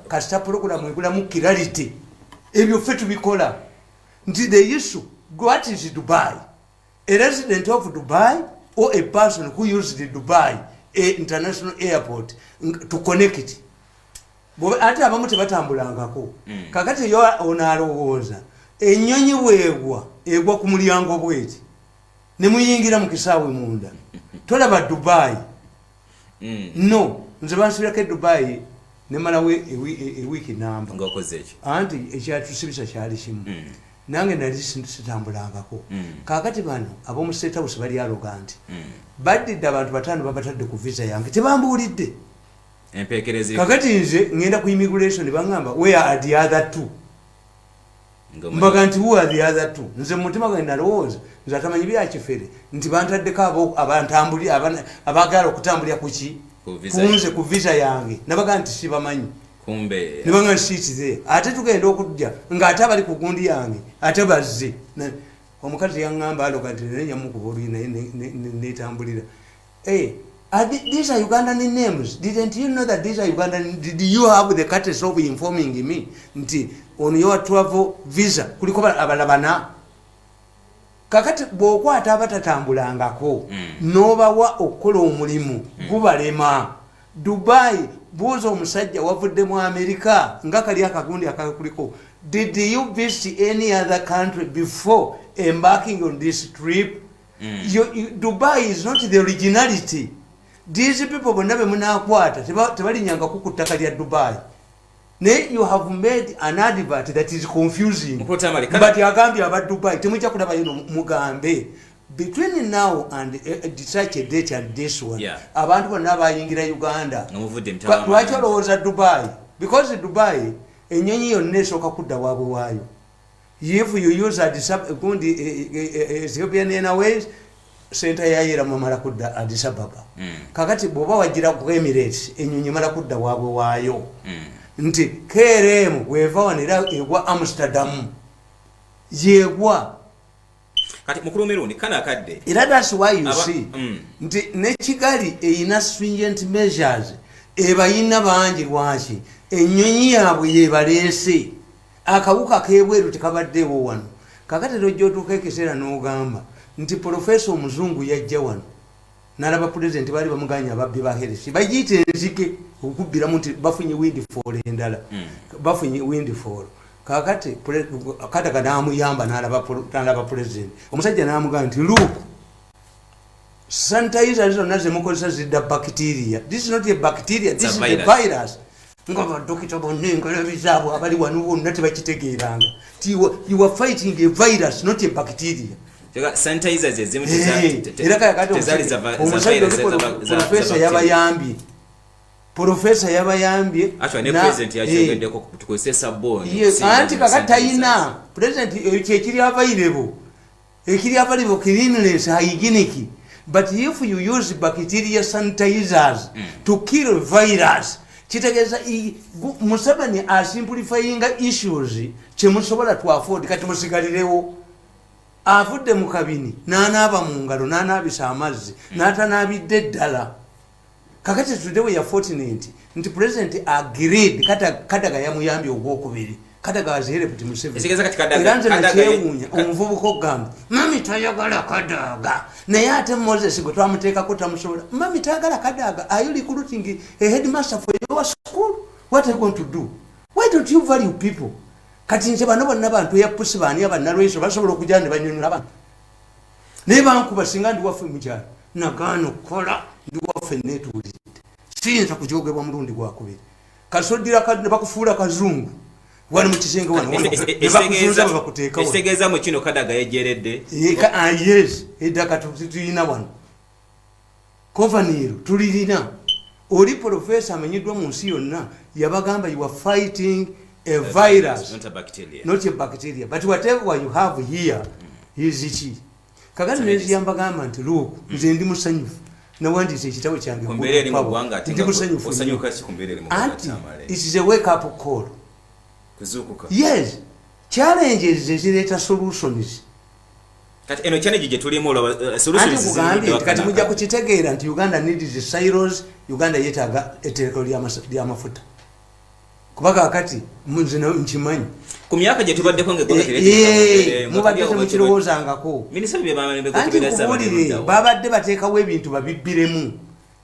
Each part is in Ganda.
kasita pulogulamu ebulamu kirality ebyo ffe tubikola nti the issue what is dubai a resident of dubai or a person who used dubai a international airport to connect ate abamu tebatambulangako mm. kakati yo onalowooza enyonyi bwegwa egwa ku mulyango bweti nemuyingira mu kisaawe munda tolaba dubai mm. no nze bansibirako edubayi nemalawo ewiiki e, e namba anti ekyatusibisa kyali kimu mm. nange nali sitambulangako mm. kakati bano abomu state house bali aloga nti mm. baddidde abantu bataano babatadde ku visa yange tebambuulidde kakati nze ngenda ku immigration bangamba where are the other two mbaga nti who are the other two nze mumutima gwe nalowooza nze atamanyi byakifere nti bantaddeko abantambuli abagala okutambulira kuki kunze ku visa yange nabaga nti sibamanyi nebanga nti siitize ate tugenda okujja ngaate abali ku gundi yange ate bazze omukazi yaŋamba aloga nti naye nyamukuba oluyi naye netambulira Hey, eh, are the, these are Ugandan names. Didn't you know that these are Ugandan? Did you have the courtesy of informing me? Nti, on your travel visa, kuliko abalabana. Kakati, bwokwa ataba tatambula ngako. Mm. Noba wa okolo umulimu. Mm. Guba lema. Dubai, buzo umusajja, wavude mwa Amerika. Ngaka liya kagundi akaka kuliko. Did you visit any other country before embarking on this trip? mm. you, you, dubai is not the originality these people bonna bemunakwata tebalinyangako ku ttaka lya dubai naye you have made an advert that is confusing but agambye aba dubai temujja kulabayo mugambe between now and uh, eh, such a date and this one yeah. abantu bonna bayingira uganda lwaki olowooza dubai because dubai enyonyi yonna esooka kudda waabwe waayo if you use adisab gundi eh, eh, eh, ethiopian airways senta yayera mumala kudda adisababa mm. kakati bwoba wagira ku emirates enyonyi mala kudda wabwe waayo mm. nti krm weva wanera egwa amsterdam yegwa kati mukulu mirundi kana kadde era that's why you Aba, see mm. nti ne kigali eyina stringent measures ebayina bangi lwaki enyonyi yabwe yebalese akawuka kebweru tekabaddewo wano kakati tojja otuuka ekiseera n'ogamba nti profesa omuzungu yajja wano nalaba pulezidenti baali bamuganya ababbi ba heresi bagiyita enzike okukubbiramu nti bafunye windifall endala hmm. bafunye windifall kakati kadaga namuyamba nalaba pulezidenti omusajja namugaa nti luk sanitayiza zonna zemukozesa zidda bacteria this is not a bacteria this is a virus nga badokita bonna engalabi zaabwe abali wano bonna tebakitegeeranga ti you are fighting a virus not a bacteria profesa yabayambye profesa yabayambye anti kaka tayina president eh, kyekiri avairebo ekiri available cleanliness hygienic but if you use bacteria sanitizers mm. to kill virus kitegeeza museveni asimplifyinga issues kyemusobola to afford kati musigalirewo avudde mu kabini n'anaaba mu ngalo n'anaabisa amazzi mm. n'atanaabidde ddala kakati tude we ya fortunate nti president agreed kata kata ga yamuyambye ogwokubiri kata ga zere kuti museve sigeza kati kata ga kata ga yewunya omuvubu ko gamba mami tayagala kata ga na yate moses go twamuteka ko tamusobola mami tayagala kata ga are you recruiting a headmaster for your school what are you going to do why don't you value people kati nse bano bonna bantu ya pusi bani abanalweso basobola okujana banyonyola abantu naye bankuba singa ndi waffe mukyalo nagaana okukola ndi waffe netuwuliridde siyinza kujogebwa mulundi gwakubiri kasoddira bakufuula kazungu wali mukisenge wanobakuteekaekitegeeza mu kino kadaga yejeredde ah, yes edaka tulina wano Kovaniro tulirina oli profesa amenyedwa mu nsi yonna yabagamba you are fighting a virus not a bacteria, not a bacteria. but whatever you have here is ki kakati neziyambagamba nti luuku mm. nze ndi musanyufu nawandiisa ekitabo kyange ndi musanyufu anti it is a wake up call yes challenges ezireeta solutions kati eno challenge gye tulimu olaba uh, solutions zizigidde wakati kati mujja kukitegeera nti Uganda needs the silos Uganda yetaaga etereko lya mafuta kuba kakati nze nkimanyi ku myaka gye tubaddeko ngemubadde temukirowoozangako antikubuulire babadde bateekawo ebintu babibbiremu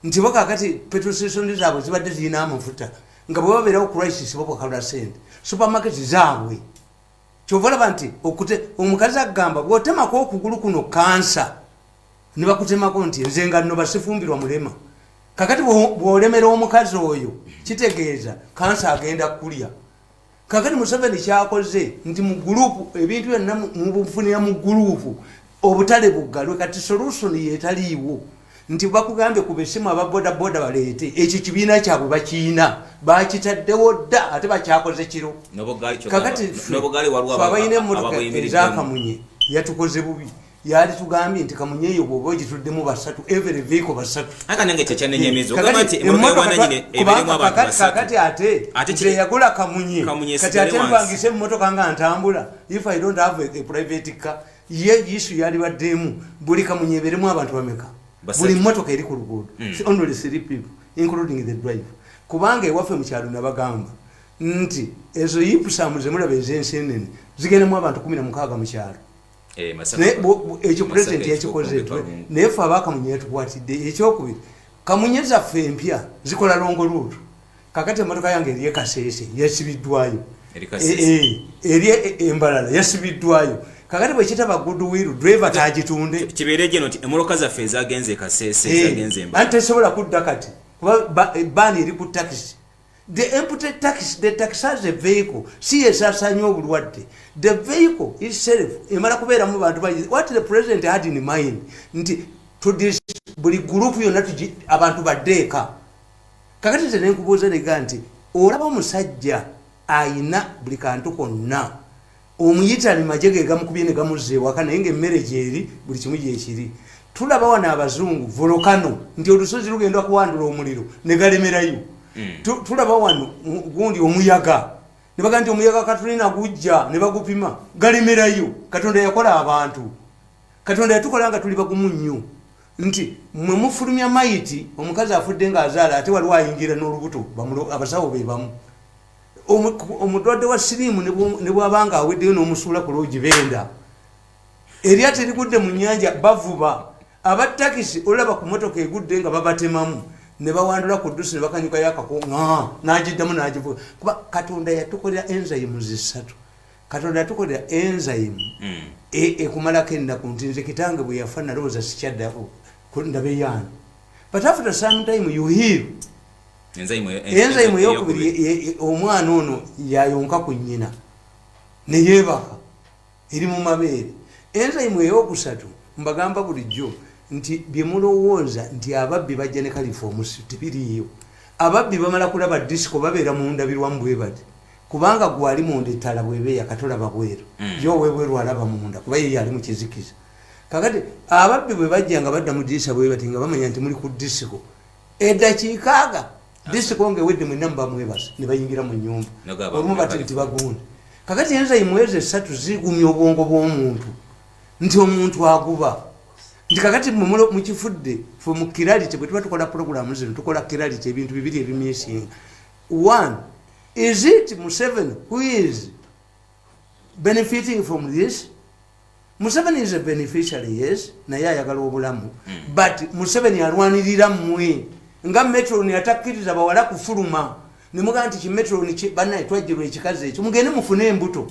nti bo kakati petrosesoni zaabwe zibadde zirina amafuta nga bwe babeerawo crisis babakalula sente supermarket zaabwe kyova olaba nti okute omukazi agamba bwotemako okugulu kuno kansa nebakutemako nti nze nga no basifumbirwa mulema kakati bwolemera omukazi oyo kitegeeza kansa agenda kulya kakati museveni kyakoze nti mu gulupu ebintu byonna mubufunira mu gulupu obutale buggalwe kati solusoni yetaliiwo nti bakugambye ku besimu aba bodaboda baleete ekyo kibiina kyabwe bakiina bakitaddewo dda ate bakyakoze kiro kakatiabalina emotoka ezakamunye yatukoze bubi yali tugambye nti kamunye eyo bwoba ogituddemu basatu every vehicle basatu kakati ate nze yagula kamunye kati ate mpangisa emmotoka nga ntambula if i don't have a, a private car ye isu yalibaddemu buli kamunye eberemu abantu bameka buli motoka eri ku luguudo mm. only three people including the drive kubanga ewaffe mukyalo nabagamba nti ezo yipusamu zemulaba ezensi enene zigendemu abantu kumi na mukaaga mukyalo eh, ekyo president yakikoze naye fe abakamunye yatukwatidde ekyokubiri kamunye zaffe empya zikola longo luutu kakati emotoka yange eri ekasese yasibiddwayo eri embalala yasibiddwayo kakati bwekitaba goodwill driver tagitunde kibeere gye nti emoloka zaffe ezagenze ekasese zagenze embalala anti tesobola kudda kati kuba baani eri ku takisi the empty tax the tax has a vehicle si esasanya obulwadde the vehicle itself emala kubeera mu bantu bayi what the president had in mind nti buli group yonna abantu baddeeka kakati nze nenkubuuza nega nti olaba omusajja ayina buli kantu konna omuyitani maje gegamukubye negamuzza ewaka naye nga emmere gyeri buli kimu gyekiri tulaba wano abazungu volokano nti olusozi lugenda kuwandula omuliro negalemerayo hmm. tulaba wano gundi omuyaga nebaga nti omuyaga katulina gujja nebagupima galemerayo katonda yakola abantu katonda yatukola nga tuli bagumu nnyo nti mwe mufulumya mayiti omukazi afudde ng'azaala ate waliwo ayingira n'olubuto abasawo be bamu omulwadde wa siriimu ne bwaba nga aweddeyo n'omusuula ku loogi benda erya terigudde mu nnyanja bavuba abattakisi olaba ku motoka egudde nga babatemamu ne bawandula ku ddusi ne bakanyukayo akako n'agiddamu n'agivuga kuba katonda yatukolera enzayimu zisatu katonda yatukolera enzyme mm. e, ekumalako ennaku nti nze kitange bwe yafa nalowooza sikyaddako ndabeyaani but after some time you heal enzyme eyokubiri e, e, omwana ono yayonka ku nnyina neyebaka eri mu mabeere enzyme eyokusatu mbagamba bulijjo nti byemulowooza nti ababbi bajja ne kalifa omusi tebiriiyo ababbi bamala kulaba disiko babeera mu ndabirwamu bwebati Kubanga gwe ali munda ettala bweba eyaka tolaba bweru mm. ye owebweru alaba munda kuba ye yali mukizikiza kakati ababbi bwe bajja nga badda mu dirisa bwe bati nga bamanya nti muli ku disiko edakiikaaga disiko nga ewedde mwenna muba mwebasa ne bayingira mu nyumba olumu bati nti bagunda kakati enza imwezi esatu zigumya obwongo bw'omuntu nti omuntu aguba nti kakati mukifudde fe mu kiralite bwe tuba tukola pulogulaamu zino tukola kiralite ebintu bibiri ebimyesinga one Is it Museveni who is benefiting from this? Museveni is a beneficiary, yes, na ya yagala obulamu. Mm. But Museveni alwanirira mwe. Nga metro ni atakiriza bawala kufuluma. Ni mga anti ki metro ni ki banae twajirwe chikaze. Chumugene mufune mbuto.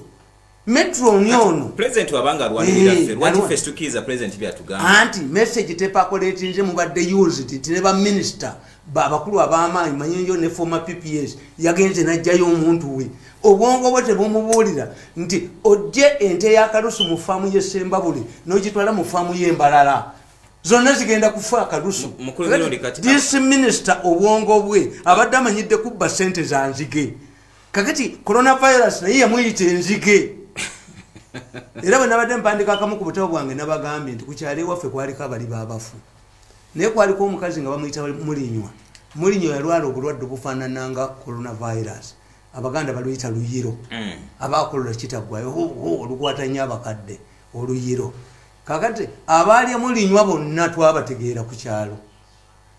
metroni ono president wabanga alwanirira eh, ffe lwaki ffe situkiriza president byatugamba anti message tepakoletinze mubadde used nti ne baminister abakulu ab'amaanyi manyinjo ne former pps yagenze n'ajjayo omuntu we obwongo bwe tebumubuulira nti ojje ente y'akalusu mu faamu y'essembabule n'ogitwala mu faamu y'embalala zonna zigenda kufa akalusu this minister obwongo bwe abadde amanyidde kubba ssente za nzige kakati coronavirus naye yamuyita enzige era bwe nabadde mpandika akamu ku butabo bwange nabagambye nti kukyalo ewaffe kwaliko abali babafu naye kwaliko omukazi nga bamuyita mulinywa mulinywa yalwala obulwadde obufaanana nga coronavirus abaganda baluyita luyiro mm. abakolola kitagwayo olukwata nyo abakadde oluyiro kakati abaalya mulinywa bonna twabategeera ku kyalo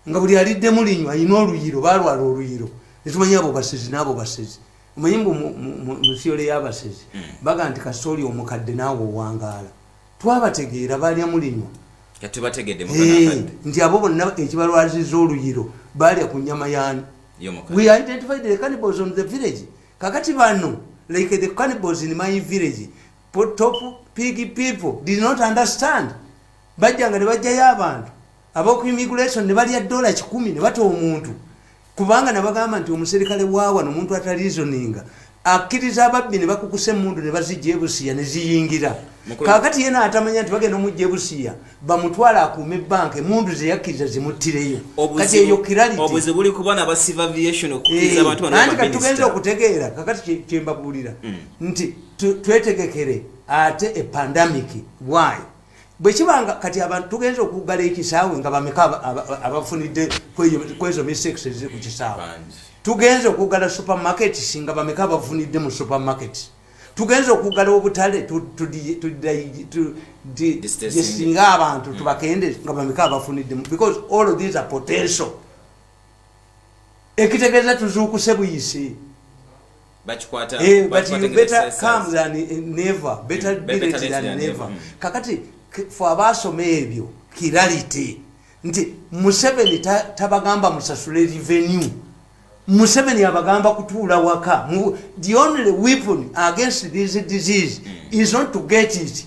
nga buli aliddemu linywa alina oluyiro balwala oluyiro netumanya abo basezi naabo basezi omanyi mbu musiyole yabasezi hmm. baga nti kasita oli omukadde naawe owangaala twabategeera balya mulinywa nti abo bonna ekibalwaziza oluyiro balya ku nyama yani kakati bano like the cannibals in my village top pig people did not understand bajjanga ne bajjayo abantu aboku immigration nebalya dola kikumi nebata omuntu kubanga nabagamba nti omuserikale wawa nomuntu atalizoninga akkiriza ababbi nebakukusa emundu nebazijja ebusiya neziyingira kakati yena atamanya nti bagenda omujja ebusiya bamutwala akuuma ebanka emundu zeyakkiriza zimuttireyo kati eyo kiralitianti katugenza okutegeera kakati kyembabuulira mm. nti twetegekere ate epandamiki waayo bwekibanga kati abantu tugenza okugala ekisaawe nga bameka abafunidde kwezo mistakes eziri ku kisaawe tugenza okugala supermarket singa bameka abafunidde mu supermarket tugenza okugala obutale tudisinga abantu tubakende nga bameka abafuniddemu because all of these are potential ekitegeeza tuzuukuse buyisi bakikwata eh, but you better come than never better mm, be late than never mm. kakati fo abaasoma ebyo kirality nti museveni tabagamba musasule revenue museveni abagamba kutuula waka the only weapon against this disease mm. is not to get it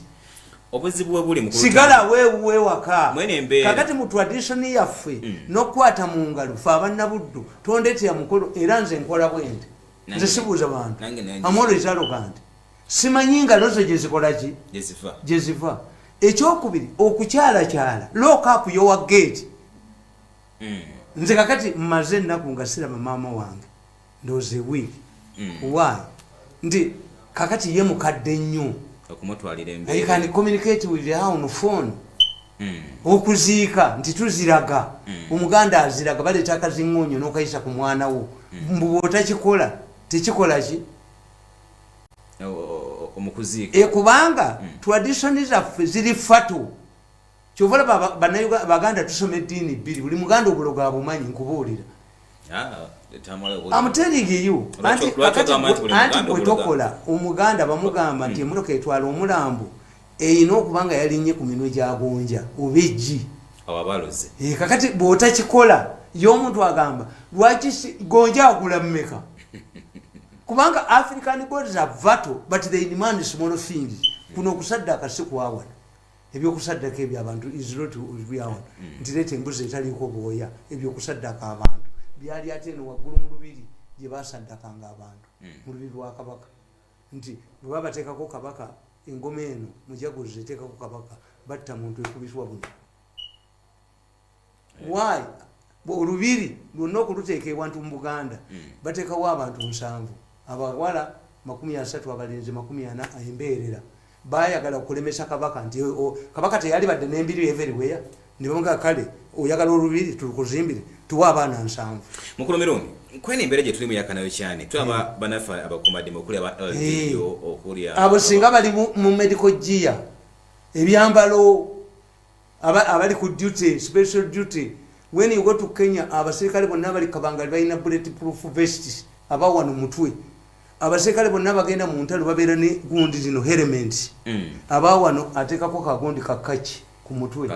obuzibu webuli mukulu sigala wewuwe waka mwene mbeera kakati mu tradition yaffe mm. nokukwata mu ngalo fe abannabuddu tondetera mukolo era nze nkola bwente nze sibuuza bantu amwolo ekyalo kanti simanyi nga lozo gyezikolaki gyeziva ekyokubiri okukyalakyala lokapu yowa gate hmm. nze kakati mmaze ennaku nga siraba maama wange ndooze wiiki hmm. waayo nti kakati ye mukadde nnyo okumutwalira embeera communicate with her on phone hmm. okuziika nti tuziraga hmm. omuganda aziraga baleeta akaziŋoonyo n'okayisa ku mwana wo hmm. mbu bwotakikola tekikola ki e, kubanga traditioni zaffe ziri fatu kyova olaba baganda tusoma eddiini bbiri buli muganda obulogo abumanyi nkubuulira amuteringiyoantiwetokola omuganda bamugamba nti emotoka etwala omulambo erina okuba nga yalinye ku minwe gyagonja oba eggi eh, kakati bwotakikola ye omuntu agamba lwaki gonja agula mumeka kubanga african gods are vatal but they demand small things kuno okusadde akasi kwawana ebyokusaddaka ebyo abantu isrotiryawon mm. nti leeta embuzi etaliiko bwoya ebyokusaddaka abantu byali ate eno waggulu mu lubiri gye basaddakanga abantu mm. mu lubiri lwa kabaka nti bwe babateekako kabaka engoma eno mujaguzi eteekako kabaka batta muntu ekubiswa buno why olubiri lwonna okuluteeka ewantu mu buganda hmm. bateekawo abantu nsanvu abawala makumi asatu abalenzi makumi ana embeerera bayagala okulemesa kabaka nti kabaka teyali badde nembiri everiweya nibamuga kale oyagala olubiri tulukuzimbire tuwa abaana nsanvu mukulu mirundi kwena embeera gyetuli muyakanayo kyane tulaba hmm. banaffe abakumadima okuli aba ldo hmm. okuli abo singa bali mu medical gia ebyambalo abali ku duty special duty when you go to kenya abaserikale bonna abali kabangali balina bullet proof vests abawano mutwe abaserikale bonna bagenda mu ntalo babeera ne gundi zino herementi mm. aba wano ateekako kagundi kakaki ku mutwe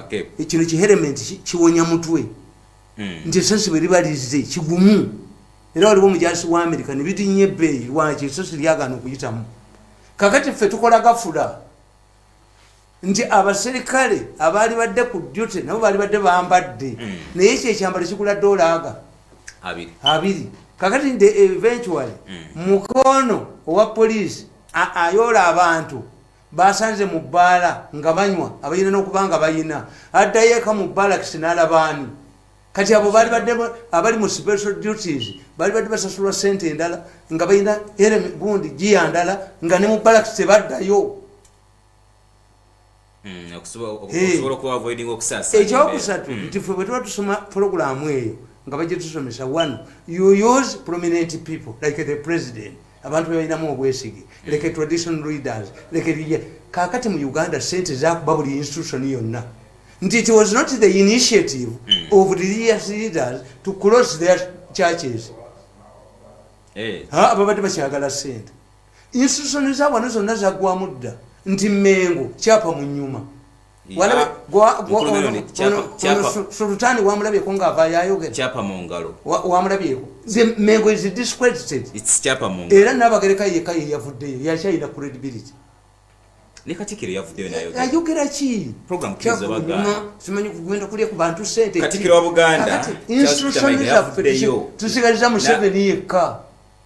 kino kiherementi kiwonya mutwe mm. nti esasi bwe liba lizze kigumu era waliwo omujasi wa amerika ne bidinya ebbeeyi lwaki esasi lyagaana okuyitamu kakati ffe tukola gafula nti abaserikale abaali badde ku dute nabo baali badde bambadde mm. naye ekyo ekyambalo kigula dolaaga abiri kakati nti eventually mm. mukoono owa poliisi ayoola abantu basanze mu bbaala nga banywa abayina n'okuba nga bayina addayo eka mu baalakisi n'alabaani kati abo baali badde abali mu special duties baali badde basasulwa sente endala nga bayina ere gundi giya ndala nga ne mu baalakisi tebaddayo hmm, ekyokusatu hmm. nti fe bwetuba tusoma pulogulaamu eyo nga bajetusomesa one yoyos prominent people like the president abantu bebalinamu obwesige leke tradition readers leke lye kakati mu uganda sente zakuba buli institution yonna nti it was not the initiative mm. of religious leaders to close their churches eh. babadde bakyagala sente institution za wano zonna zaggwamu dda nti mengo kyapa mu nyuma sultani wamulabyeko ngaavayayogewamulabyeko mengo is discredited era nabagereka yeka yeyavuddeyo yakyayina credibility ayogera ki simanyi kugenda kulya ku bantu sente institution zaffe tusigaliza museveni yekka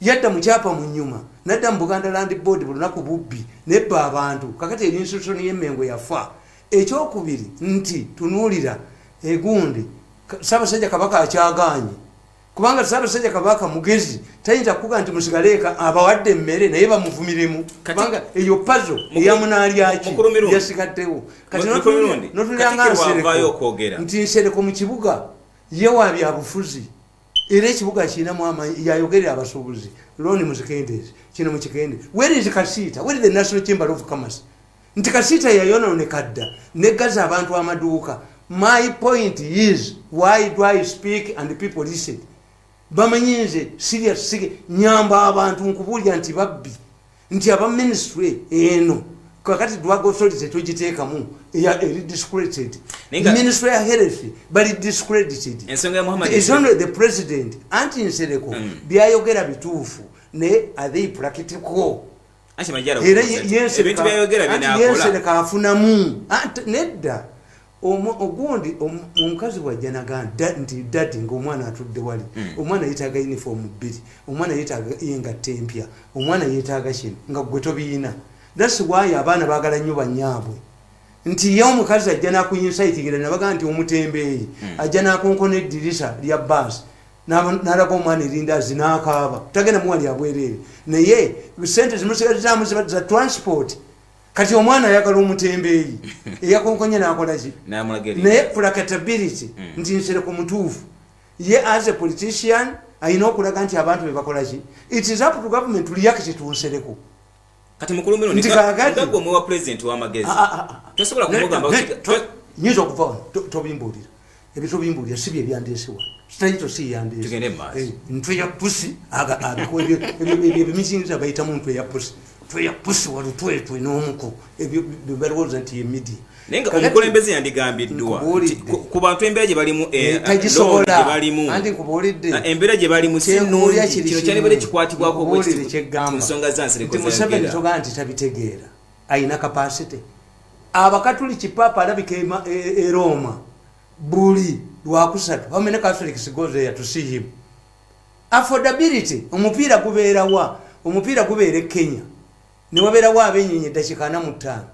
Yadda mu kyapa mu nyuma nadda mu Buganda Land Board buli lunaku bubbi nebba abantu kakati eri institution y'e Mengo yafa. Ekyokubiri nti tunuulira e gundi Ssaabasajja Kabaka akyagaanyi kubanga Ssaabasajja Kabaka mugezi tayinza kukuga nti musigale eka abawadde emmere naye bamuvumiremu kubanga eyo pazo eya munaalyaki yasigaddewo kati notunulira nga nsereko nti nsereko mu kibuga ye wa byabufuzi era ekibuga kirinamu amanyi yayogerera abasuubuzi loni muzikendeezi kino mukikende werizi kasiita weri the national chamber of commerce nti kasiita yayononeka dda negaza abantu amaduuka my point is why do i speak and people listen bamanyi nze sirya sige nyamba abantu nkubuulira nti babbi nti aba ministry eno kakati drug authority togiteekamu eri discredited ministry ya health bali discredited is only the president anti nsereko mm. byayogera bituufu naye are they practical era yensereka afunamu nedda ogundi omukazi bwajja naga nti dadi ngaomwana atudde wali hmm. omwana yetaaga uniform bbiri omwana yetaaga engatta empya omwana yetaaga kino nga gwe tobiyina thats why abaana bagala nnyo banyaabwe nti ye omukazi ajja nakuyinsayitingira nabaga nti omutembeeyi hmm. ajja nakonkona eddirisa lya baasi nalaga omwana erindazi nakaaba tagenda muwali abwereere naye sente zimusigazaamu za transport kati omwana ayagala omutembeeyi eyakonkonye nakolaki naye kulakatability hmm. nti nsereko mutuufu ye as a politician alina okulaga nti abantu bebakolaki it is up to government liyake kyetunsereko kati mukulumiro nti kagagwe mwewa president wamagezi ah, ah, ah, tosobola kumugamba nyinza okuva tobimbuulira ebitobimbulira si bye byandeese wano sitali to si yandeese eh, ntwe ya pusi ebimizingiza bayitamu ntwe ya pusi twe ya pusi walutwetwe n'omuko ebyo balowooza nti ye midia naye nga omukulembeze yandigambiddwa ku bantu embeera gye balimu eh, eh, ah, embeera gye balimu sinungi kino kyandibadde kikwatibwako ku nsonga zansirekomuseveni togaa nti tabitegeera ayina capacity abakatuliki papa alabika eroma e, e buli lwakusatu how many catholics go there to see him affordability omupiira gubeerawa omupiira gubeera e kenya newabeerawo abenyonyi eddakika ana mu ttaano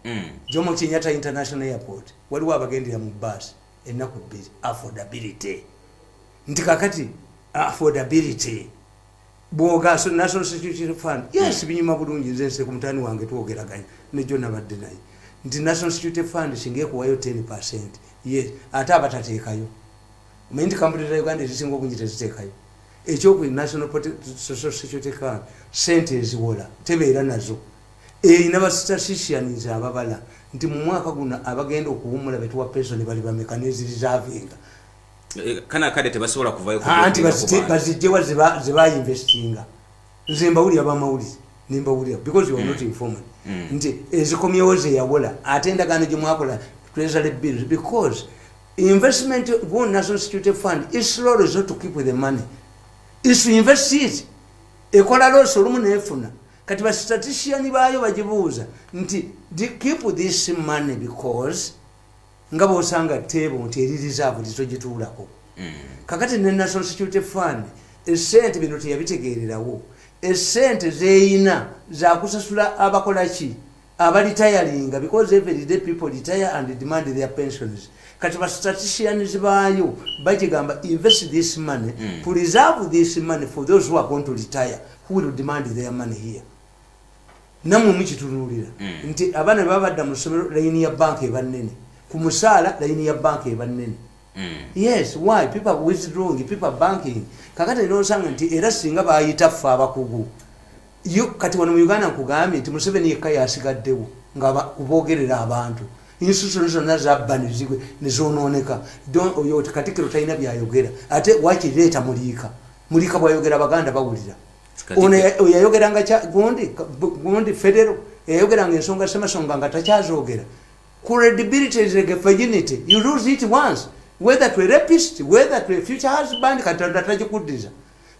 hmm. jomo kenyata international airport waliwo abagendera mu bus ennaku bbiri affordability nti kakati affordability bwoga national security fund yes binyuma bulungi nze nse ku mutani wange twogeraganya nejo nabadde naye nti national security fund singa ekuwayo 10 percent yes ate abatateekayo omanyi nti kampuni za uganda ezisinga obungi teziteekayo ekyoku national social security fund sente eziwola tebeera nazo erina bastatisticians ababala nti mu mwaka guno abagenda okuwumula betuwa pesoni bali bameka nezirizavinga eh, kana kade tebasobola kuvayo anti bazijjewa zebayinvestinga nze mbawulira bamawulize nembawulira because you are not mm. informed mm. nti ezikomyewo zeyawola ate endagaano gyemwakola treasury bills because investment one national security fund is slow resort to keep the money is to invest it ekola losi olumu nefuna kati bastatistician baayo bagibuuza nti keep this money because nga bwosanga teebo nti eri reserve lito gituulako mm. kakati ne national security fund esente bino teyabitegeererawo esente zeyina zakusasula abakolaki abalitayalinga because every day people retire and demand their pensions kati ba staticians baayo bagigamba invest this money mm. to reserve this money for those who are going to retire who will demand their money here namwe mukitunulira mm. nti abaana baba badda mu ssomero layini ya banka eba nnene ku musaala layini ya banka eba nnene mm. yes why people withdrawing people banking kakati nosanga nti era singa bayita ffe abakugu yo kati wano mu uganda nkugambye nti museveni yekka yasigaddewo nga kubogerera abantu institution zonna zabba nezigwe nezonooneka oyo katikiro talina byayogera ate wakireeta muliika muliika bwayogera baganda bawulira ono yayogeranga gundi gundi federo yayogeranga ensonga semasonga nga takyazogera credibility is like a virginity you lose it once whether to a rapist whether to a future husband katonda takikuddiza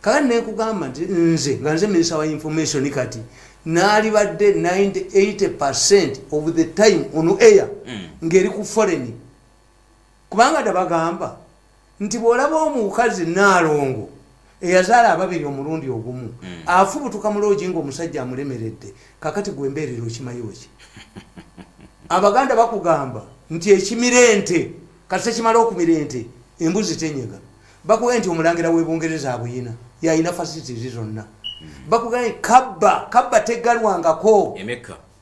kaka nekugamba nti nze nga nze minister wa information kati nalibadde 98 percent of the time on air mm. ngeri ku foreign kubanga dabagamba nti bwolaba omukazi Nnaalongo eyazaala ababiri omulundi ogumu mm. afubutuka mu loogi ng'omusajja amulemeredde kakati gwe mbeerera okimayo ki abaganda bakugamba nti ekimira ente kasita kimala okumira ente embuzi tenyega bakugambye nti omulangira w'ebungereza abuyina yalina fasitizi zonna mm. bakugambye kabba kabba tegalwangako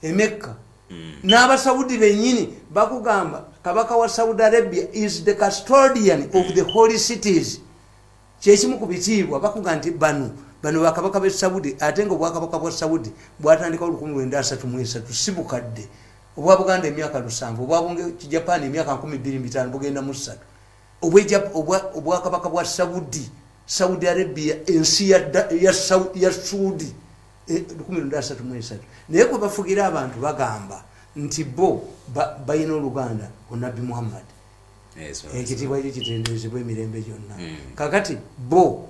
emekka mm. n'abasaudi benyini bakugamba kabaka wa saudi arabia is the custodian mm. of the holy cities kyekimu ku bitiibwa bakuga nti bano bano bakabaka be saudi ate nga obwakabaka bwa saudi bwatandikawo lukumi lwenda asatu mu esatu si bukadde obwa buganda emyaka lusanvu obwa bunge kijapan emyaka nkumi bbiri mitaano bugenda mu ssatu obwakabaka bwa saudi saudi arabia ensi ya suudi 13 naye kwebafugira abantu bagamba nti bo balina oluganda onabbi muhammad ekitiibwa kyo kitendezebwa emirembe gyonna hmm. kakati bo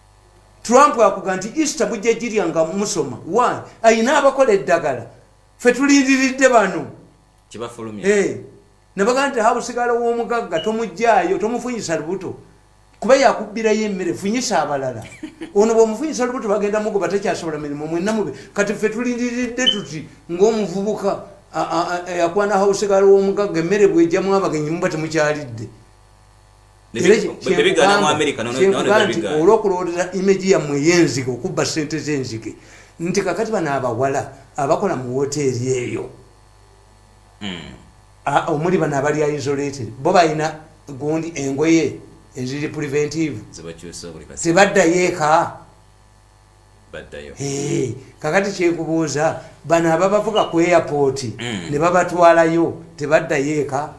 trump akuga nti easter mujja jirya nga musoma why ayina abakola eddagala fe tulindiridde bano kibafulumya hey. Eh, nabaga nti habusigala womugagga tomujjayo tomufunyisa lubuto kuba yakubbirayo emmere funyisa abalala ono bwomufunyisa lubuto bagenda mugoba takyasobola mirimu mwena mube kati fe tulindiridde tuti ngaomuvubuka yakwana habusigala womugagga emmere bwejamu abagenyi muba temukyalidde olwokulowoleza imagi yammwe eyenzige okubba sente zenzige nti kakati bano abawala abakola mu woteeri eyo hmm. omuli bano abalya isolated bo balina gundi engoye eziri preventive tebaddayo eka kakati kyekubuuza bano ababavuga ku airpoti hmm. ne babatwalayo tebaddayo eka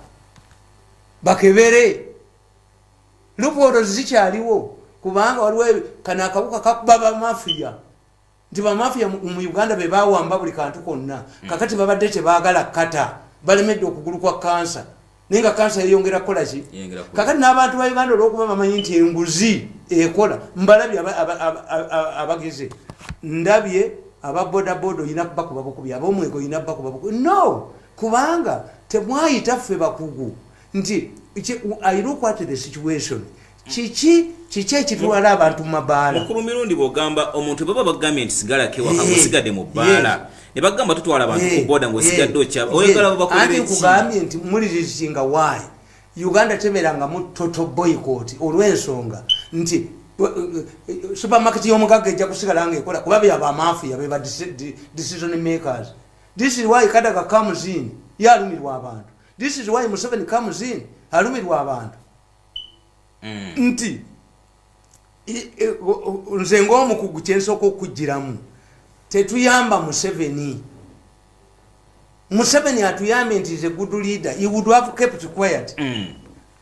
bakebere lupootozi zikyaliwo kubanga waliwo kano akabuka kakuba bamafiya nti bamafiya mu uganda be bawamba buli kantu konna hmm. kakati babadde tebagala kata balemedde okugulu kwa kansa naye nga kansa yeyongera kukola ki kakati n'abantu ba uganda olwokuba bamanyi nti enguzi ekola mbalabye abageze ndabye aba bodaboda olina kubakuba bukubi abomwego olina kubakuba bukubi no Kubanga temwayita ffe bakugu nti ayina okwate the situation kiki kiki ekitwala abantu mu mabaala mukulu mirundi bwogamba omuntu baba bagambye nti sigala kewaka gusigade mu bbaala ne bagamba tutwala abantu ku boda ngaosigadde okyaba oyagala babakolera eki nkugambye nti mulirizinga wayi uganda teberangamu toto boycott olw'ensonga nti supermarket y'omugagga ejja kusigala nga ekola kuba byaba amaafuya beba decision makers This is why Kadaga comes in. Ye alumirwa abantu. This is why Museveni comes in. Alumirwa abantu. Mm. Nti, nze ngomu kuguchenso oko kujiramu. Tetuyamba Museveni. Museveni atuyambe nti is a good leader. He would have kept quiet. Mm.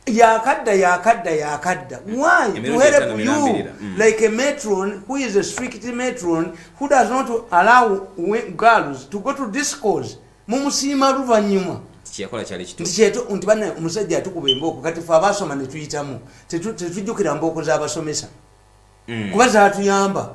yakadda yakadda yakadda mm. why to help you mm. like a matron who is a strict matron who does not allow girls to go to discos mumusiima luvanyuma nti bana omusajja atukuba embooko kati fe abasoma netuyitamu tetujjukira mbooko zabasomesa mm. kuba zatuyamba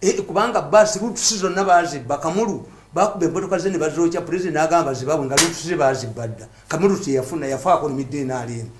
Eh, kubanga bus rutusi zonna bazibba kamulu bakuba emmotoka ze ne bazookya pulezidenti n'agamba bazibabwe nga rutusi ze bazibba dda kamulu teyafuna yafaako nemidde enaali emu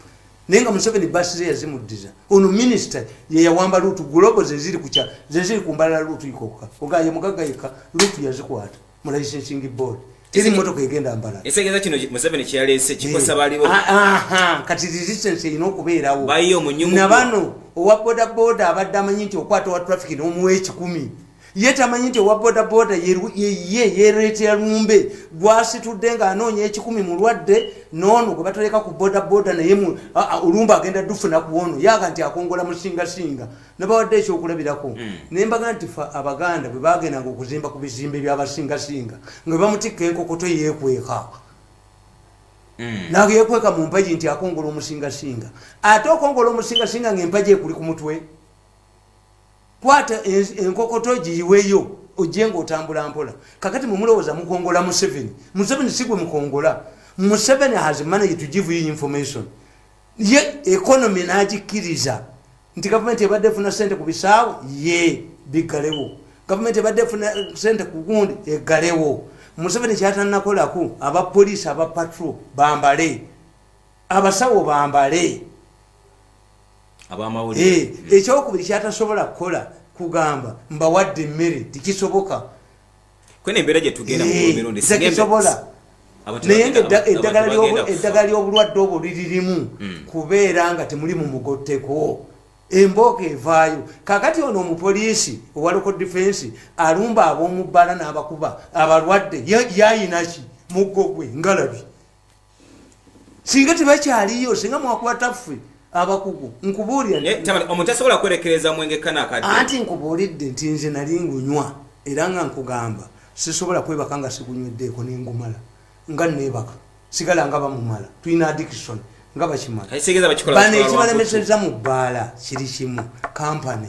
naye nga museveni basi ze yazimuddiza ono minisita yeyawamba luutu gulobo zeziri kukya zeziri ku mbalala luutu ikokka ogaye mugagga yekka luutu yazikwata mu licensing board teri motoka egenda mbala esegeeza kino museveni kyeyaleese kikosa eh. baliwo ah, ah, ah. kati resistance erina okubeerawo bayiyo munyumu nabano owa boda boda abadde amanyi nti okwata owa traffic n'omuwa ekikumi ye tamanyi nti owa boda boda ye yereetera lumbe gwasitudde ng'anoonya ekikumi mulwadde noono gwe batoleka ku boda boda naye olumbe agenda dufuna ku ono yaga nti akongola musingasinga nabawadde ekyokulabirako hmm. naye mbaga nti fe abaganda bwe bagendanga okuzimba ku bizimbe byabasingasinga nga bamutikka enkokoto yekweka hmm. naga yekweka mu mpaji nti akongola omusingasinga ate okongola omusingasinga nga empaji ekuli ku mutwe kwata enkokoto giyiweyo ojje nga otambula mpola kakati mwemulowooza mukongola museveni museveni sigwe mukongola museveni has manage to give you information ye economy n'agikkiriza nti gavumenti ebadde efuna ssente ku bisaawe ye biggalewo gavumenti ebadde efuna ssente ku gundi eggalewo museveni kyatannakolaku abapoliisi aba patro bambale abasawo bambale eh, ekyokubiri kyatasobola kukola kugamba mbawadde emmere tikisoboka kwene embeera gye tugenda mu eh, mirundi sisobola naye nga eddagala ly'obulwadde obwo liririmu hmm. kubeera nga temuli mu mugotteko embooka evaayo kakati ono omupoliisi owa local defense alumba ab'omubbala n'abakuba abalwadde yayinaki muggo gwe ngalabi singa tebakyaliyo singa mwakwata ffe abakugu nkubuuliraomuntu asobola kwerekereza mwenge kanakati anti nkubuulidde nti nze nali ngunywa era nga nkugamba sisobola kwebaka nga sigunyweddeko nengumala nga nebaka sigala nga bamumala tulina addiction nga bakimala bano ekibalemeseza mu bbaala kiri kimu kampany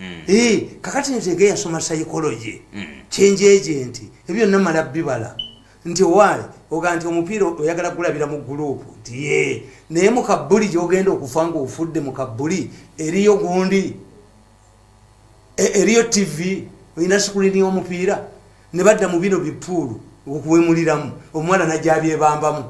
mm. hey, eh, kakati nzege yasoma psychology mm. kyenjeje nti ebyo byonna mala bibala nti owaali oga nti omupiira oyagala kulabira mu gurupu nti ye naye mu kabbuli gyogenda okufa nga ofudde mu kabbuli eriyo gundi e, eriyo tv olina sikulini omupiira ne badda mu bino bipuulu okuwemuliramu omwana najabyebambamu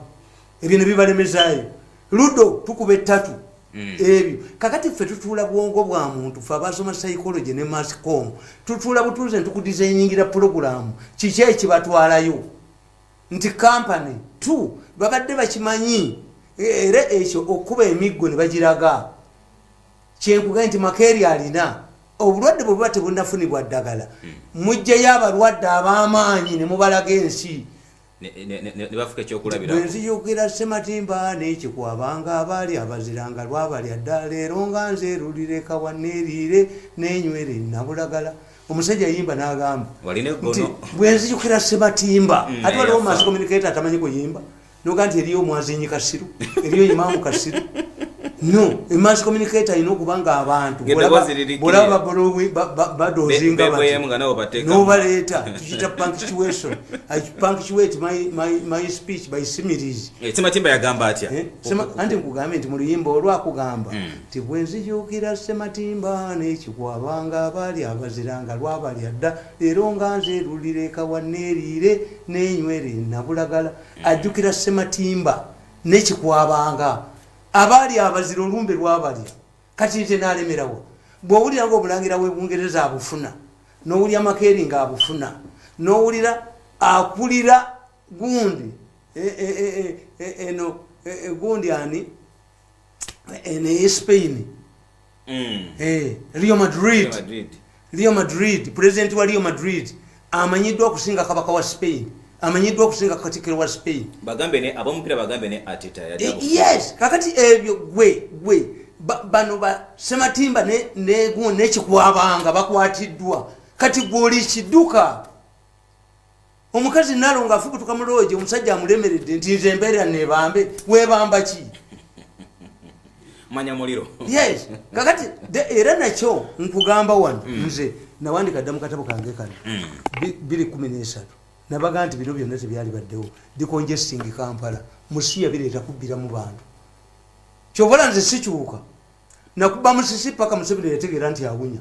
ebyo nebibalemezayo ludo tukuba ettatu mm. ebyo kakati ffe tutuula bwongo bwa muntu fe abasoma psychology ne mascom tutuula butuuze ntukudizainingira pulogulamu kiki ekibatwalayo nti kampany t babadde bakimanyi e, era ekyo okukuba emiggo ne bagiraga kyenkugae nti makeeri alina obulwadde bwebuba tebunafunibwa ddagala mm. mujjayo abalwadde ab'amaanyi ne mubalaga ensi nebafuka ekyokulabira bwenziyukira sematimba nekikwaba nga abaali abazira nga lwabalya dda leero nga nze erulireka waneriire nenywere nabulagala omusajja yimba nagamba nti bwenziyukira sematimba mm, ate waliwo mass communicator atamanyi kuyimba noga nti eriyo omwazinyi kasiru eriyo imaamu kasiru no emass communicator alina okuba nga abantu bolaba badozinga nobaleeta kiyita punctuation i punctuate my, my, my speech by similes eh, sematimba yagamba atya eh? anti nkugambye nti mu luyimba olwakugamba hmm. nti mm. bwenzijukira sematimba nekikwabanga abaali abazira nga lwabalya dda leero nga nze lulireka waneeriire nenywere nabulagala mm. ajjukira sematimba nekikwabanga abaali abazira olumbe lwabalya kati nze nalemerawo bwowulira nga obulangira webungereza abufuna nowulira makeeri nga abufuna nowulira akulira gundi e, e, e, eno gundi ani ene ye spain mm. eh, rio madrid Real Madrid, president wa Real Madrid amanyiddwa okusinga kabaka wa Spain. Amanyiddwa okusinga katikiro wa Spain. Bagambe ne abomupira bagambe ne Arteta yali. Eh, yes, kakati ebyo gwe gwe bano ba sematimba ne ne gu ne kikwabanga bakwatiddwa. Kati gwe oli kiduka. omukazi nalo nga afubutuka mu loogi omusajja amulemeredde nti nze mbeera nebambe webamba ki manya muliro yes kakati era nakyo nkugamba wano mm. nze nawandika dda mukatabo kange kano mm. biri kumi nesatu nabaga nti bino byonna tebyali baddewo dicongesting kampala musiya bireeta kubbira mu bantu kyobola nze sikyuka nakuba musisi paka museveni yategeera nti awunya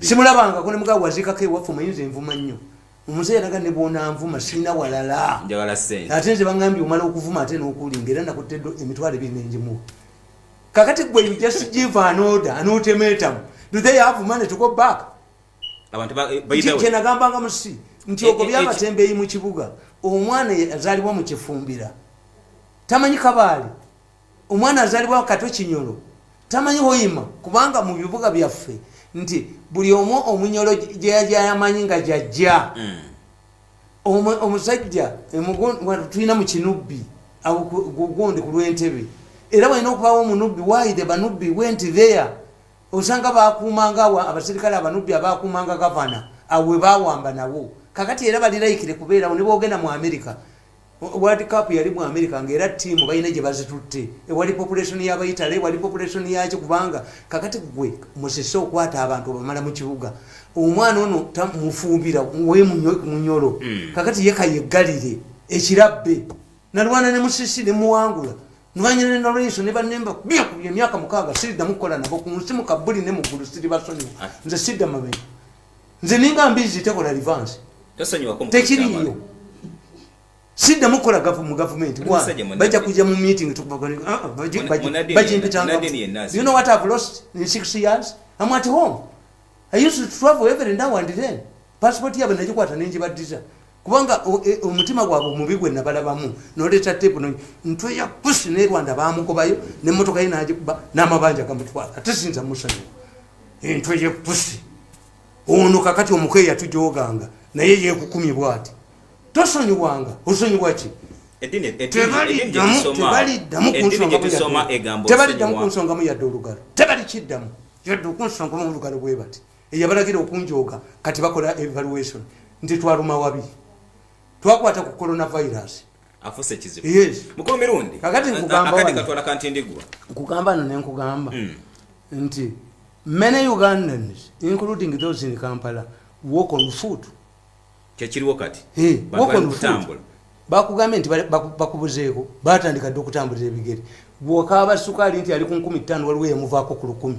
simulabangako ne mugaa waziikako ewaffe omuyinza envuma nnyo omuzeeyi alaga ne bwonanvuma sirina walala ate nze bangambye omala okuvuma ate n'okulinga era nakuttedo emitwalo ebiri nenjimuwa kakati gwe you just give an order an ultimatum do they have money to go back eh, kyenagambanga musi nti eh, ogo eh, byabatembeeyi mu kibuga omwana azalibwa mu kifumbira tamanyi kabaali Omwana azalibwa Kato Kinyolo tamanyi Hoima kubanga mu bibuga byaffe nti buli omu omunyolo gyeyajayamanyi nga jajja mm. omusajja tulina mu kinubbi gundi ku lwentebe era walina okubawo omunubbi wide banubbi went there osanga bakuumanga awo abaserikale abanubbi abakuumanga gavana awo webawamba nawo kakati era balilaikire kubeerawo nebwogenda mu amerika World Cup yali mu America nga era ttiimu balina gye bazitutte ewali population y'Abayitale ewali population yaki kubanga kakati ggwe musese okwata abantu obamala mu kibuga omwana ono tamufumbira wemunyolo hmm. kakati ye kayeggalire ekirabbe nalwana ne musisi ne muwangula nwanyina ne nolwenso ne bannemba kubye emyaka mukaaga siriddamu kukola nabo ku nsi mu kabbuli ne mu ggulu siribasonyiwa ah. nze sidda mabega nze ninga mbizi tekola advance tekiriyo siddamu kukola gavu mu gavumenti bajja kujja mu meeting bajimpitangayouno what have lost in six years am at home i used to travel every now and then passport yabwe nagikwata nenjibaddiza kubanga e, omutima gwabwe omubi gwe nabalabamu noleeta tepu no ntwe ya pusi ne rwanda bamugobayo nemotoka ye nagikuba n'amabanja gamutwala ate sinza musanyu entwe ye pusi ono kakati omuko eyatujoganga naye yekukumye bwati tosonyiwanga osonyiwa ki tebaliddamu kunsongamu yadde olugalo tebalikiddamu yadde okunsongamu olugalo bwe bati eyabalagira okunjooga kati bakola evaluation nti twaluma wabi twakwata ku coronavirus afuse kizibu yes mukulu mirundi kakati nkugamba akati katwala kanti ndigwa nkugamba no nenkugamba mm. nti many ugandans including those in kampala walk on foot kyekiriwo kati hey, walk on foot bakugambye nti bakubuzeeko batandika dde okutambulira ebigere bwokaaba sukaali nti ali ku nkumi ttaano waliwo eyamuvaako ku lukumi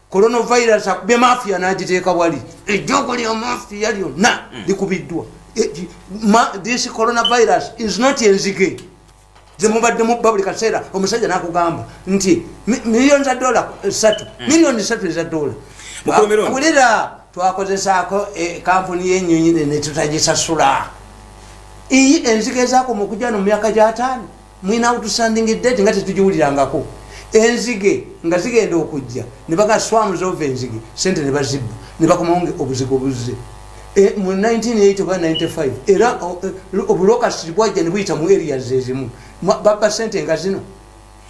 coronavirus akubye mafia nagiteeka wali ejjogo lya mafia lyonna mm. likubiddwa eh, this coronavirus is not enzige zemubadde mubba buli kaseera omusajja nakugamba nti million za dola eh, satu mm. million satu eza dola wulira twakozesaako eh, kampuni yenyonyi netutagisasula iyi enzige zakoma okujja no mumyaka gyataano mwina outstanding date nga tetugiwulirangako enzige nga zigenda okujja nebaga swamu zova enzige sente nebazibba nebakomawo obuzigo buzze e, mu 1980 oba 95 era e, obulokasi bwajja nebuyita mu area zezimu babba sente nga zino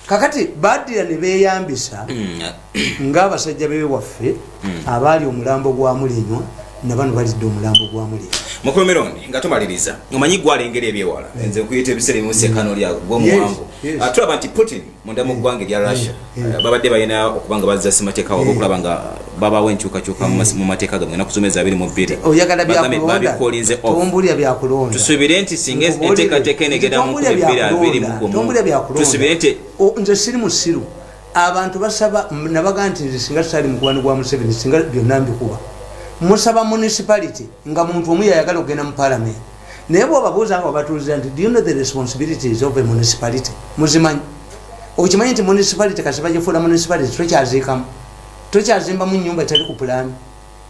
kakati badira nebeyambisa mm, ng'abasajja be waffe hmm. abaali omulambo gwa mulenywa nabano balidde omulambo gwa mulenywa mukomerondi nga tumaliriza omanyi gwalengera ebyewala hmm. nze nkuyita ebiseera ebimu sekano lya gwomuwango ah, tulaba nti putin munda mu hmm. ggwanga erya russia ah, babadde balina okuba nga bazza simateeka waba okulaba nga babawo enkyukakyuka mu mateeka gamwe enaku zomezi abiri mu bbiri babikolinze tusubire nti singa enteekateeka enegenda mu kumi bbiri abiri mu gumu tusubire nti nze siri musiru abantu basaba nabaga nti nze singa sali mukwano gwa museveni singa byonna mbikuba musaba municipality nga muntu omu yayagala okugenda mu palamenti naye bwobabuuza nga babatuuliza nti do you know the responsibilities of a municipality muzimanyi okimanyi nti municipality kasi bagifuula municipality tokyaziikamu tokyazimbamu nyumba etali ku pulaani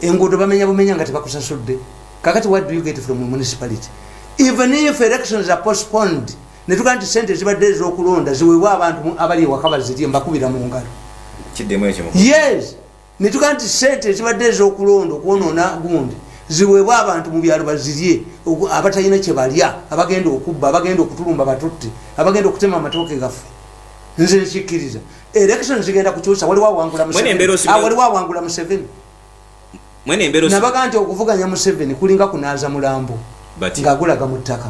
enguudo bamenya bumenya nga tebakusasudde kakati what do you get from municipality even if elections are postponed netuga nti sente zibadde ezokulonda ziwebwa abantu abali ewaka bazirye mbakubira mu ngalo yes netuga nti sente zibadde ezokulonda okwonona gundi ziwebwa abantu mu byalo bazirye abatalina kyebalya abagenda okubba abagenda okutulumba batutte abagenda okutema amatooke gafu nze nkikkiriza election zigenda kukyusa waliwo awangula museveni nabaga nti okuvuganya museveni kulinga kunaaza mulambo ngaagulaga mu ttaka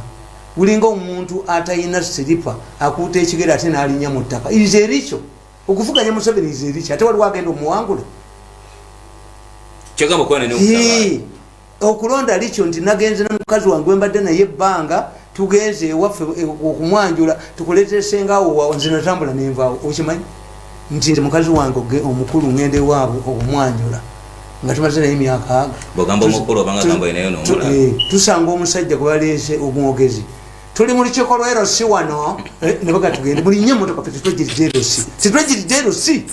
gulinga omuntu atalina siripa akuuta ekigere ate nalinya mu ttaka is erikyo okuvuganya museveni is erikyo ate waliwo agenda omuwangula okulonda likyo nti nagenze nomukazi wange wembadde naye ebbanga tugenze ewaffe e, okumwanjula tukuleetera sengaawo waawo nze natambula nenvaawo okimanyi nti nze mukazi wange omukulu ngenda ewaabwe okumwanjula nga tumaze naye emyaka eh, tusanga omusajja gwebaleese omwogezi tuli mu lukiiko lwa erosi wano eh, nebagatugende mulinye emotoka fe tetwegirija erosi tetwegirija erosi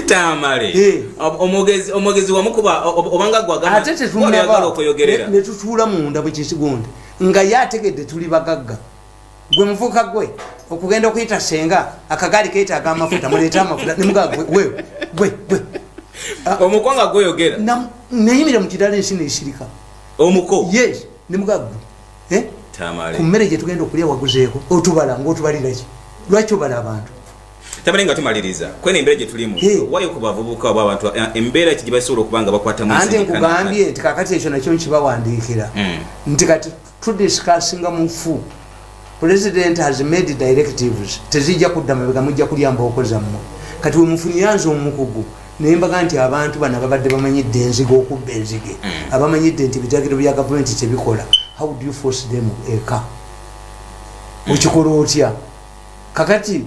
tamale omwogezi omwogezi wamukuba obanga gwagala ate tetunagala okuyogerera ne tutuula munda bwe kyekigonde nga yategedde tuli bagagga gwe muvuka gwe okugenda okuyita senga akagaali keetaaga amafuta muleete amafuta nemugaa gwe gwe gwe gwe ah. omukwanga gwoyogera neyimire mu kidala ensi neisirika omuko yes nemugaa gwe eh? ku mmere gye tugenda okulya waguzeeko otubala ngaotubaliraki lwaki obala abantu tamale nga tumaliriza kwena embeera gye tulimu wayo ku bavubuka oba abantu eh, embeera ki gye basobola okuba nga bakwatamu ante nkugambye nti kakati ekyo nakyo nkibawandiikira hmm. nti kati tudisikasinga mufu president has made directives tezijja kudda mabega mujja kulya mbooko zammwe kati wemufunyanze omukugu naye mbaga nti abantu bano babadde bamanyidde enziga okubba enzige hmm. abamanyidde nti ebitagiro bya gavumenti kyebikola how do you force them eka okikola otya kakati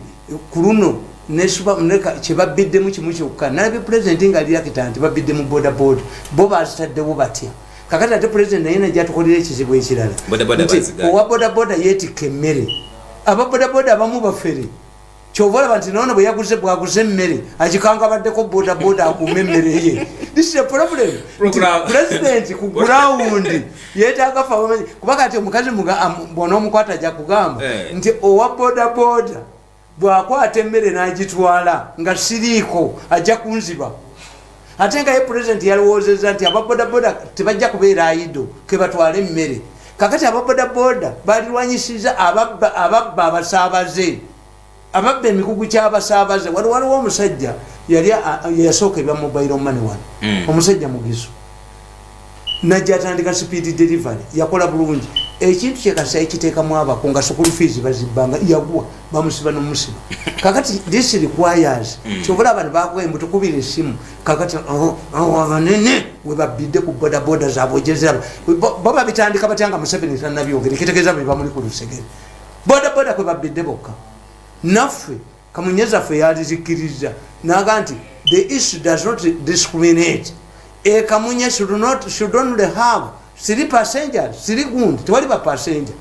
kuluno neshuba muleka kyebabbiddemu kimu kyokka nalabye pulezidenti nga aliyakita nti babbidde mu bodaboda bo bazitaddewo batya kakati ate pulezidenti naye najatukolera ekizibu ekirala nti owa bodaboda yeetikka emmere aba bodaboda abamu bafere kyova olaba nti noono bwe yaguze bwaguze emmere akikanga abaddeko bodaboda akuuma emmere ye this is a problem nti pulezidenti ku gurawundi yetaaga fa bamanyi kuba kati omukazi bwonaomukwata ajja kugamba eh. nti owa bodaboda bwakwata emmere n'agitwala nga siriiko ajja kunziba ate nga ye pulezidenti yalowoozeza nti ababodaboda tebajja kubeera ayido kebatwale emmere kakati ababodaboda balirwanyisiza ababba abasaabaze ababba emikugu kyabasaabaze wali waliwo omusajja yali yasooka ebya mobile money wano hmm. omusajja mugizo najja atandika speed delivery yakola bulungi ekintu kyekasa ekiteekamu abako nga sukulu fees bazibbanga yagwa bamusiba nomusiba kakati this requires hmm. kyobola abantu bakuwa embuto kubira esimu kakati oh, oh, abanene webabbidde ku bodaboda zabwe jeziraba baba bitandika batya nga museveni tanabyogerekitegeeza bebamuli ku lusegere bodaboda kwe babbidde bokka naffe kamunye zaffe yalizikiriza naga nti the issue does not discriminate e kamunye should not should only have siri passenger siri gundi tewali ba passenger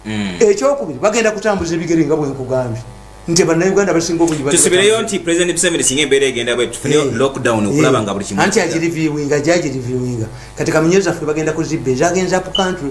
mm. ekyokubiri bagenda kutambuza ebigere nga bwenkugambye nti banauganda basinga obutusibireyo nti president museveni singa embeera egenda bwetufune eh. lockdown eh. okulaba nga buli kimu anti agiriviwinga gyagiriviwinga kati kamunye zaffe bagenda kuzibba ezagenza pu country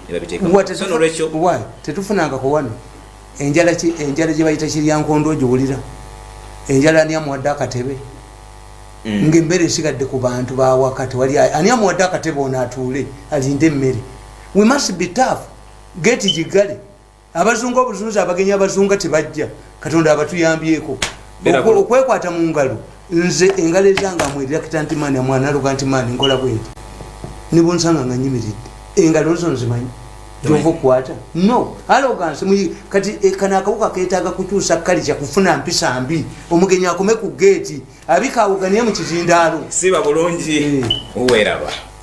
tetufunangako wano enjala enjala gyebayita kiryankondo giwulira enjala ani amuwadde akatebe mm. ngaemmere esigadde ku bantu bawaka tewali ani amuwadde akatebe ono atuule alinde emmere we must be tough geti gigale abazunga obuzunzi abagenyi abazunga tebajja katonda abatuyambyeko okwekwata mu ngalo nze engalo ezanga mwerakita nti maani amwanaluga nti maani nkola bwenti nibunsanga nga nyimiridde engalo zo nzimanyi gyova okukwata no alogansi kati e, kano akawuka ketaaga kukyusa kalija kufuna mpisa mbi omugenyi akome ku geeti abikaawuganiye mu kizindaalo siba bulungi eh. uweraba